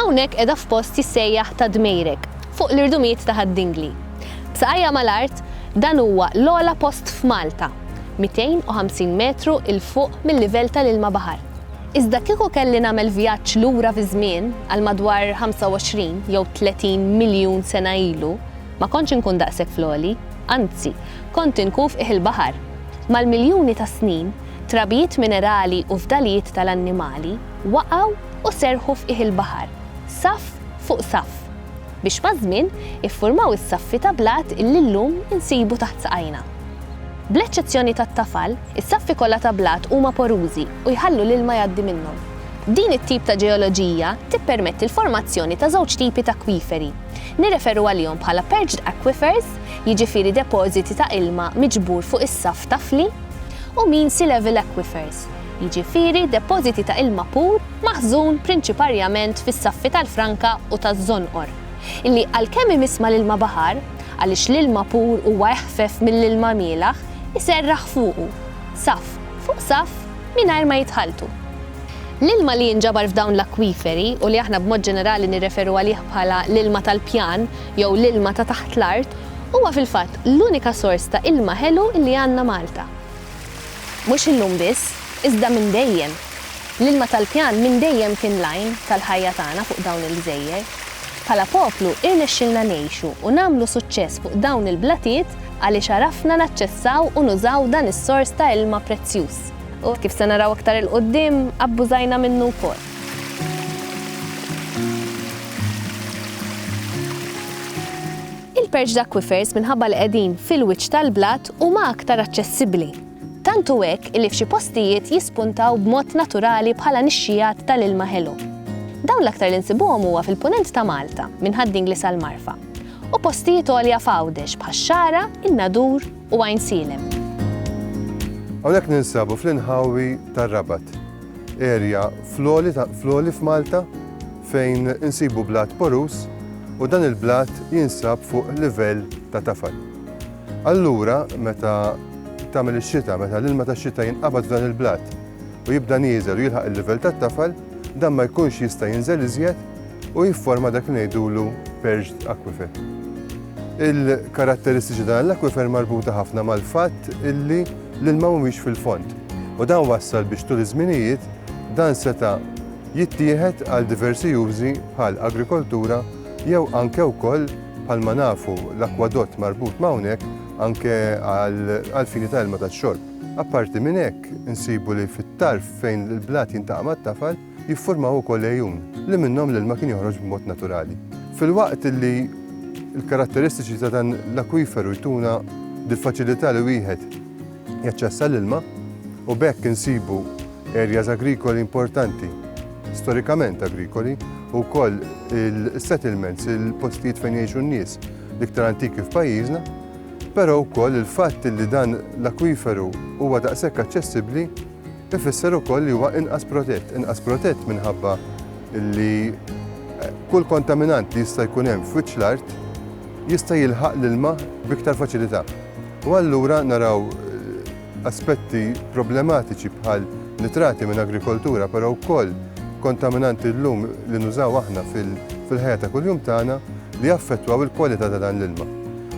Hawnhekk qiegħda f'post jissejjaħ Ta' Dmejrek, fuq l-irdumijiet ta' Ħad-Dingli. B'saqajha mal-art, dan huwa l-ogħla post f'Malta, 250 metru 'l fuq mil-livell tal-ilma baħar. Iżda kieku kelli nagħmel vjaġġ lura fiż-żmien, għal madwar 25 jew 30 miljun sena ilu, ma kontx inkun daqshekk fl-għoli. anzi, kont inkuf qiegħ il-baħar. Mal-miljuni ta' snin, trabijiet minerali u fdalijiet tal-annimali waqgħu u serrħu f'qiegħ il-baħar, saff fuq saff, biex maż-żmien iffurmaw is-saffi ta' blat li llum insibu taħt saqajna. Bl-eċċezzjoni tat-tafal, is-saffi kollha ta' blat huma porużi u jħallu l-ilma jgħaddi minnhom. Din it-tip ta' ġeoloġija tippermetti l-formazzjoni ta' żewġ tipi t'akwiferi. Nirreferu għalihom bħala perched aquifers, jiġifieri depożiti ta' ilma miġbur fuq is-saff tafli, u mean sea level aquifers, jiġifieri depożiti ta' ilma pur maħżun prinċiparjament fis-saffi tal-franka u taż-żonqor, li għalkemm imiss mal-ilma baħar, għaliex l-ilma pur huwa eħfef mill-ilma mielaħ, iserraħ fuqu, saff fuq saff, mingħajr ma jitħalltu. L-ilma li jinġabar f'dawn l-akwiferi, u li aħna b'mod ġenerali nirreferu għalih bħala l-ilma tal-pjan jew l-ilma ta' taħt l-art, huwa fil-fatt l-unika sors ta' ilma ħelu li għandna Malta. Mhux illum biss, iżda minn dejjem. L-ilma tal-pjan minn dejjem kien l-għajn tal-ħajja tagħna fuq dawn il-gżejjer. Bħala poplu irnexxielna ngħixu u nagħmlu suċċess fuq dawn il-blatiet Għaliex għarafna naċċessaw u nużaw dan is-sors ta' ilma prezzjuż. U, kif se naraw aktar 'il quddiem, abbużajna minnu wkoll. Il-perched aquifers minħabba li qegħdin fil-wiċċ tal-blat huma aktar aċċessibbli. Tant hu hekk illi f'xi postijiet jispuntaw b'mod naturali bħala nixxijat tal-ilma ħelu. Dawn l-aktar li nsibuhom huwa fil-Punent ta' Malta, minn Ħad-Dingli sal-Marfa. u postijiet għolja f'Għawdex bħax-Xagħra, in-Nadur u Għajnsielem. Hawnhekk ninsabu fl-inħawi tar-Rabat, erja fl-għoli f'Malta fejn insibu blat porus u dan il-blat jinsab fuq livell ta' tafal. Allura meta tagħmel ix-xita, meta l-ilma tax-xita jinqabad f'dan il-blat u jibda nieżel u jilħaq il-livell tat-tafal, dan ma jkunx jista' jinżel iżjed u jifforma dak li ngħidulu perched aquifer. Il-karatteristiċi dan l-aquifer marbuta ħafna mal-fatt illi l-ilma mhumiex fil-fond. U dan wassal biex tul iż-żminijiet dan seta' jittieħed għal diversi użi bħal agrikoltura jew anke wkoll bħal ma nafu l-akwadott marbut ma' hawnhekk anke għal fini ta' ilma tax-xorb. Apparti minn hekk, insibu li fit-tarf fejn il-blat jintaqa' mat-tafal, jiffurmaw ukoll għejun li minnhom l-ilma kien joħroġ b'mod naturali. Filwaqt li l-karatteristiċi ta' dan l-akwiferu jtuna dil-faċilità li wieħed jaċċessa l-ilma u bekk insibu areas agrikoli importanti, storikament agrikoli, u koll il-settlements, il-postijiet fejn jiexu n-nies, l-iktar antiki f'pajjiżna, pero u koll il-fatt li dan l-akwiferu huwa daqshekk aċċessibbli Ifisser ukoll li huwa inqas protett, inqas protett minħabba li kull kontaminant li jista' jkun hemm f'wiċċ l-art jista' jilħaq l-ilma b'iktar faċilità. U allura naraw aspetti problematiċi bħal nitrati minn agrikoltura, però wkoll kontaminanti llum li nużaw aħna fil-ħajja ta' kuljum tagħna li jaffettwaw il-kwalità ta' dan l-ilma.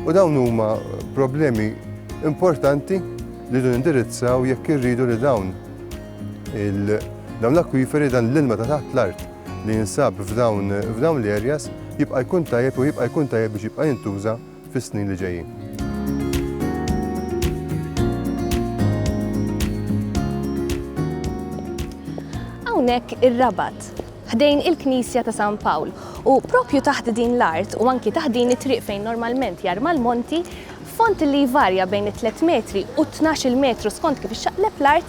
U dawn huma problemi importanti Rridu nindirizzaw jekk irridu li dawn l-akwiferi, dan l-ilma ta' taħt l-art li jinsab f'dawn l-areas jibqa' jkun tajjeb u jibqa' jkun tajjeb biex jibqa' jintuża fis-snin li ġejjin. Hawnhekk ir-Rabat, ħdejn il-Knisja ta' San Pawl u proprju taħt din l-art u anki taħt din it-triq fejn normalment jarma l-monti, Fond li jvarja bejn it-tliet metri u t-tnax-il metru skont kif ixxaqleb l-art,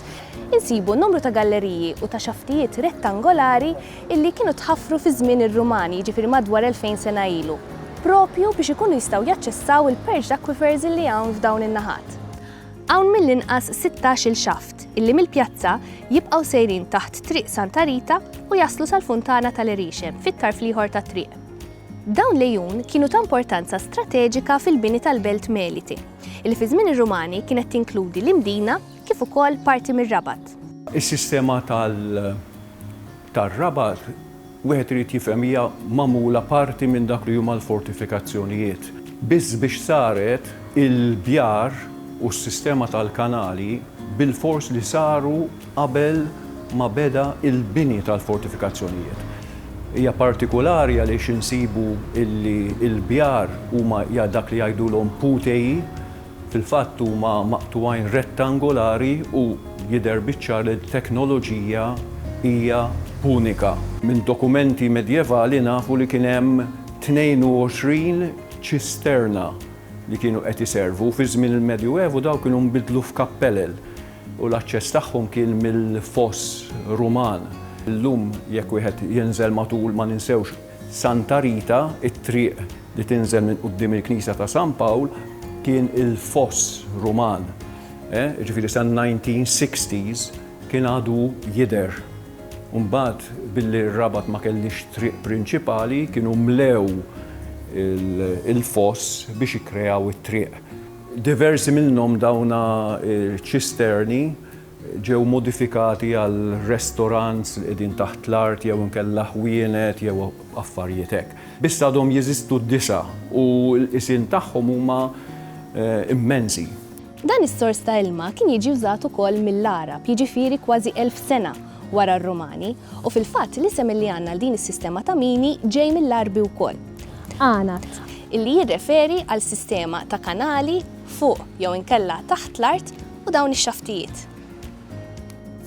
insibu numru ta' galleriji u ta' xaftijiet rettangolari illi kienu tħaffru fi żmien ir-Rumani, jiġifieri madwar elfejn sena ilu, proprju biex ikunu jistgħu jaċċessaw il-purged aquifers illi hawn f'dawn in-naħat. Hawn mill-inqas sittax-il xaft illi mill-pjazza jibqgħu sejrin taħt Triq Santa Rita u jaslu sal-Funtana tal-Erixem fit-tarf l-ieħor tat-triq. Dawn l-għejun kienu ta' importanza strateġika fil-bini tal-belt Melite, li fi żmien ir-Rumani kienet tinkludi l-Imdina kif ukoll parti mir-Rabat. Is-sistema tar-Rabat, wieħed irid jifhem hija magħmula parti minn dak li huma l-fortifikazzjonijiet. Biss biex saret, il-bjar u s-sistema tal-kanali bilfors li saru. qabel ma beda l-bini tal-fortifikazzjonijiet. Hija partikulari għaliex insibu li l-bjar huma dak li jgħidulhom puteji, fil-fatt huma maqtugħin rettangolari u jidher biċ-ċar li t-teknoloġija hija punika. Minn dokumenti medjevali nafu li kien hemm 22 ċisterna li kienu qed iservu, fi żmien il-Medjuevu dawn kienu nbidlu f'kappelel. u l-aċċess tagħhom kien mill-Foss Ruman. Illum jekk wieħed jinżel matul ma ninsewx Santa Rita, it-triq li tinżel minn quddiem il-Knisja ta' San Pawl kien il-Foss Ruman. Jiġifieri sal-1960s kien għadu jidher. U mbagħad billi r-Rabat ma kellhiex triq prinċipali kienu mlew il-foss biex ikkreaw it-triq. Diversi minnhom dawna ċisterni ġew modifikati għal restorants li qegħdin taħt l-art jew inkella ħwienet jew affarijiet hekk. Biss għadhom jeżistu disa' u l-qisien tagħhom huma immensi. Dan is-sors ta' ilma kien jiġi wżat ukoll mill-Għarab, jiġifieri kważi elf sena wara r-Rumani, u fil-fatt l-isem li għandna għal din is-sistema ta' mini ġej mill-Għarbi wkoll. Għanad. Illi jirreferi għal sistema ta' kanali fuq jew inkella taħt l-art u dawn ix-xaftijiet.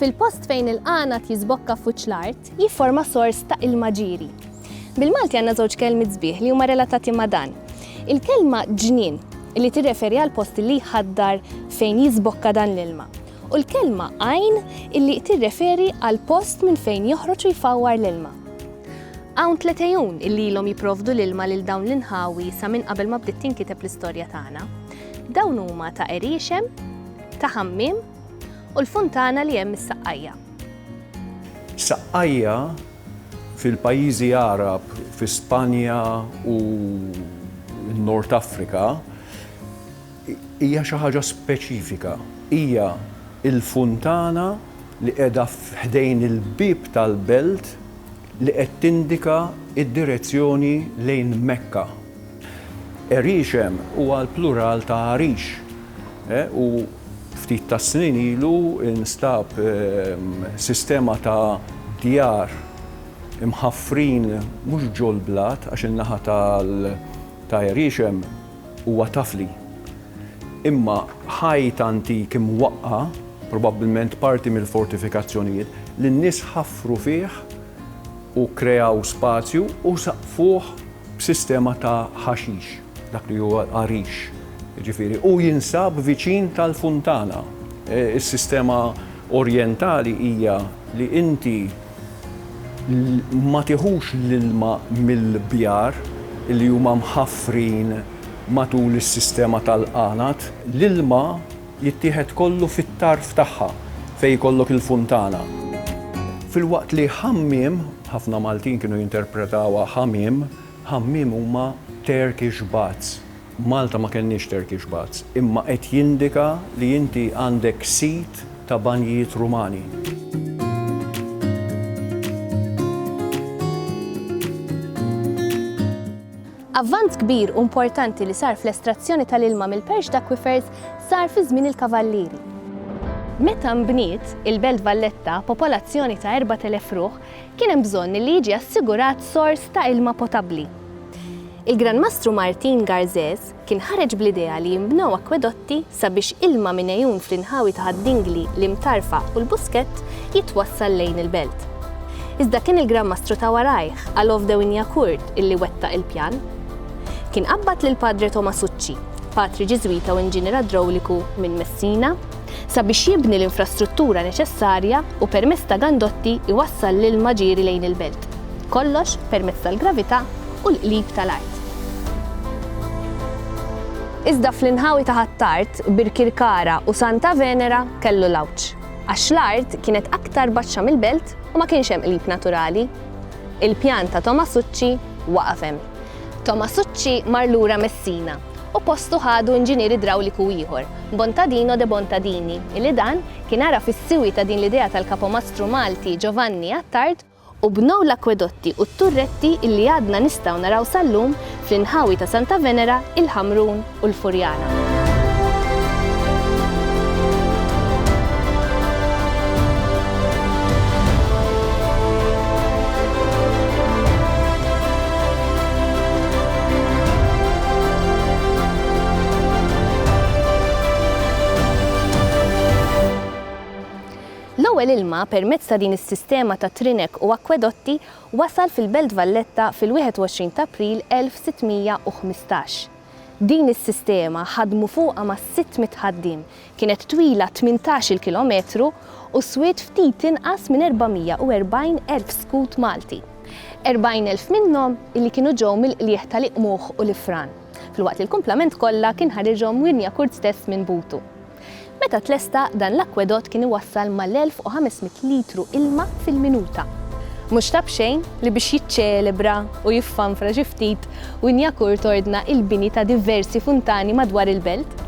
Fil-post fejn il-għanad jiżbokka f'wiċċ l-art. Jifforma sors ta' ilma ġieri. Bil-Malti għandna żewġ kelmiet sbieħ li huma relatati ma' dan. Il-kelma ġnien illi tirreferi għall-post illi jħaddar fejn jiżbokka dan l-ilma u l-kelma għajn illi tirreferi għall-post minn fejn joħroġ u jfawwar l-ilma. Hawn tliet għejun illi ilhom jipprovdu l-ilma lil dawn l-inħawi sa minn qabel ma bdiet tinkiteb l-istorja tagħna. Dawn huma ta' Qeriexem, ta' Ħammiem u l-funtana li hemm is-Saqqajja. Saqqajja fil-pajjiżi Għarab fi Spanja u n-Nord Afrika. Hija xi ħaġa speċifika. Hija l-funtana li qiegħda f'ħdejn il-bieb tal-belt li qed tindika d-direzzjoni lejn Mekka. Għeriexem huwa l-plural ta' għarix u ftit tas-snin ilu nstab sistema ta' djar imħaffrin mhux ġol-blat għax in-naħa ta' Għeriexem Huwa taf li. Imma ħajt antik imwaqqa', probabbilment parti mill-fortifikazzjonijiet, li n-nies ħaffru fih u kkreaw spazju u saqqfuh b'sistema ta' ħaxix, dak li huwa l-għarix, jiġifieri, u jinsab viċin tal-funtana. Is-sistema Orjentali hija li inti. Ma tieħux l-ilma mill-bjar li huma mħaffrin matul is-sistema tal-qanad. L-ilma jittieħed kollu fit-tarf tagħha fejn jkollok il-funtana. Filwaqt li ħammiem, ħafna Maltin kienu jinterpretawha ħamiem, ħammiem huma Turkish baths. Malta ma kellniex Turkish baths, imma qed jindika li inti għandek sit ta' banjijiet Rumani. Avvanz kbir u importanti li sar fl-estrazzjoni tal-ilma mill-Perched Aquifers sar fi żmien il-Kavallieri. Meta nbniet il-Belt Valletta, popolazzjoni ta' 4,000 ruħ, kien hemm bżonn li jiġi assigurat sors ta' ilma potabbli. Il-Gran Mastru Martin Garżez kien ħareġ bl-idea li jinbnew akkwedotti sabiex ilma minn għejun fl-inħawi ta' Ħad-Dingli, l-Imtarfa u l-Buskett jitwassal lejn il-belt. Iżda kien il-Gran Mastru ta' warajh, Alov de Wignacourt, illi wettaq il-pjan. Kien qabbad lill-Padre Tomasucci, patri Ġiżwita u inġinier idrawliku minn Messina, sabiex jibni l-infrastruttura neċessarja u permezz ta' gandotti jwassal l-ilma ġieri lejn il-belt. Kollox permezz tal-gravità u l-qlib tal-art. Iżda fl-inħawi ta' Ħ'Attard, Birkirkara u Santa Venera kellu l-għawġ, għax l-art kienet aktar baxxa mill-belt u ma kienx hemm qlib naturali. Il-pjan ta' Tomasucci waqaf hemm. Tomasucci mar lura Messina u postu ħadu inġinier idrawliku ieħor, Bontadino de Bontadini, illi dan kien għaraf is-siwi ta' din l-idea tal-kapomastru Malti Giovanni Attard, u bnew l-akkwedotti u t-turretti illi għadna nistgħu naraw sal-lum fl-inħawi ta' Santa Venera, il-Ħamrun, u l-Furjana. L-ewwel ilma permezz ta' din is-sistema ta' trinek u akkwedotti wasal fil-Belt Valletta fil-21 t'April 1615. Din is-sistema ħadmu fuqha ma' sitt mitt ħaddiem, kienet twila tmintax-il kilometru u swiet ftit inqas minn 440 erb skut Malti. 40 elf minnhom illi kienu ġew mill-qligħ tal-Iqmugħ u l-Ifran, filwaqt li l-kumplament kollha kien ħariġhom Wirnjakurt stess minn butu. Meta tlesta, dan l-akwedott kien iwassal mal-1,500 litru ilma fil-minuta. Mhux ta' b'xejn li biex jiċċelebra u jiffanfra xi ftit, Wynyakourt ordna l-bini ta' diversi funtani madwar il-belt.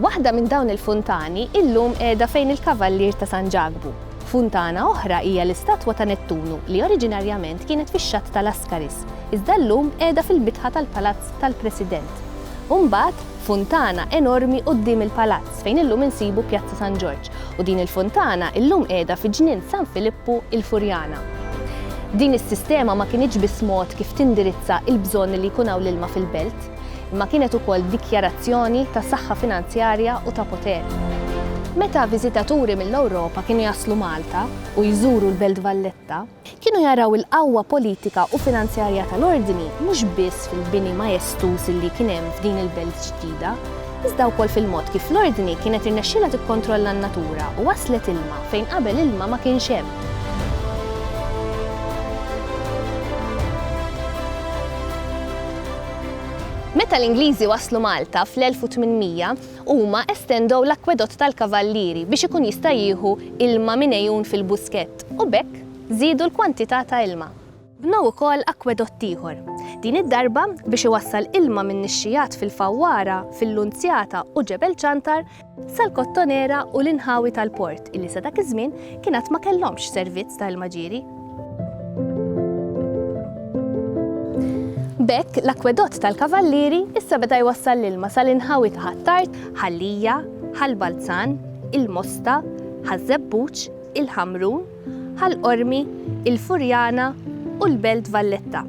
Waħda minn dawn il-funtani illum qiegħda fejn il-Kavallier ta' San Ġakbu. Funtana oħra hija l-istatwa ta' Nettunu li oriġinarjament kienet fix-xatt ta' Lascaris, iżda llum qiegħda fil-bitħa tal-Palazz tal-President. U mbagħad, Funtana enormi quddiem il-Palazz fejn illum insibu Pjazza San Ġorġ u din il-funtana illum qiegħda fi Ġnien San Filippu il-Furjana. Din is-sistema ma kinitx biss mod kif tindirizza il-bżonn li jkun hawn l-ilma fil-belt, imma kienet ukoll dikjarazzjoni ta' saħħa finanzjarja u ta' poter. Meta viżitaturi mill-Ewropa kienu jaslu Malta u jżuru l-Belt Valletta, Kienu jaraw il-qawwa politika u finanzjarja tal-Ordni mhux biss fil-bini majestuż li kien hemm f'din il-belt ġdida, iżda wkoll fil-mod kif l-Ordni kienet irnexxielha tikkontrolla n-natura u wasslet ilma fejn qabel ilma ma kienx hemm. Meta l-Ingliżi waslu Malta fl-1800, Huma estendew l-Akkwedott tal-Kavallieri biex ikun jista' jieħu ilma minn għejun fil-Buskett u b'hekk żiedu l-kwantità ta' ilma. Bnew ukoll akkwedott ieħor, din id-darba biex iwassal ilma min-nixxigħat fil-Fawwara, fil-Lunzjata u Ġebel Ċantar sal-Kottonera u l-inħawi tal-port illi sa dak iż-żmien kien għad ma kellhomx servizz ta' ilma ġieri. B'hekk, l-akwedott tal-Kavallieri issa beda jwassal l-ilma sal-inħawi ta' Ħ'Attard, Ħal-Lija, Ħal-Balzan, il-Mosta, Ħaż-Żebbuġ, il-Ħamrun, Ħal-Qormi, il-Furjana u l-Belt Valletta,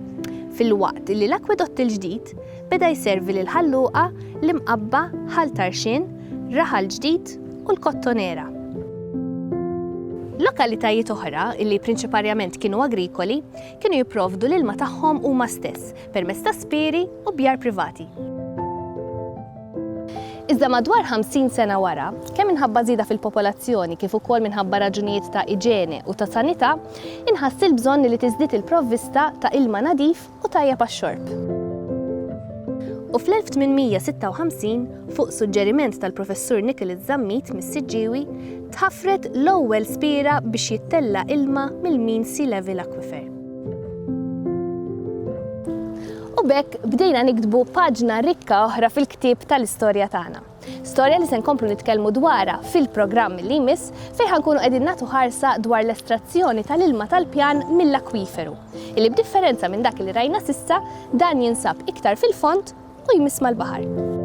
filwaqt li l-akwedott il-ġdid Beda jservi lil Ħal Luqa, l-Imqabba, Ħal Tarxien, Raħal Ġdid u l-Kottonera. Lokalitajiet oħra, li prinċiparjament kienu agrikoli, kienu jipprovdu l-ilma tagħhom huma stess permezz ta' spieri u bjar privati. Iżda madwar 50 sena wara, kemm minħabba żieda fil-popolazzjoni kif ukoll minħabba raġunijiet ta' iġene u ta' sanità, inħass il-bżonn li tiżdied il-provvista ta' ilma nadif u tajjeb għax-xorb. U fl-1856, fuq suġġeriment tal-Professur Nicholas Zammit mis-Siġġiewi, tħaffret l-ewwel spiera biex jittella' ilma mill-Mean Sea Level Aquifer. U b'hekk bdejna niktbu paġna rikka oħra fil-ktieb tal-istorja tagħna. Storja li se nkomplu nitkellmu dwarha fil-programm li jmiss fejn ħa nkunu qegħdin nagħtu ħarsa dwar l-estrazzjoni tal-ilma tal-pjan mill-akwiferu, illi b'differenza minn dak li rajna s'issa, dan jinsab iktar fil-fond u jmiss mal-baħar.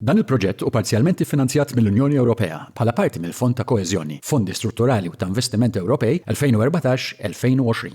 Dan il-proġett hu parzjalment iffinanzjat mill-Unjoni Ewropea bħala parti mill-Fond ta' Koeżjoni, Fondi Strutturali u ta' Investiment Ewropej 2014-2020.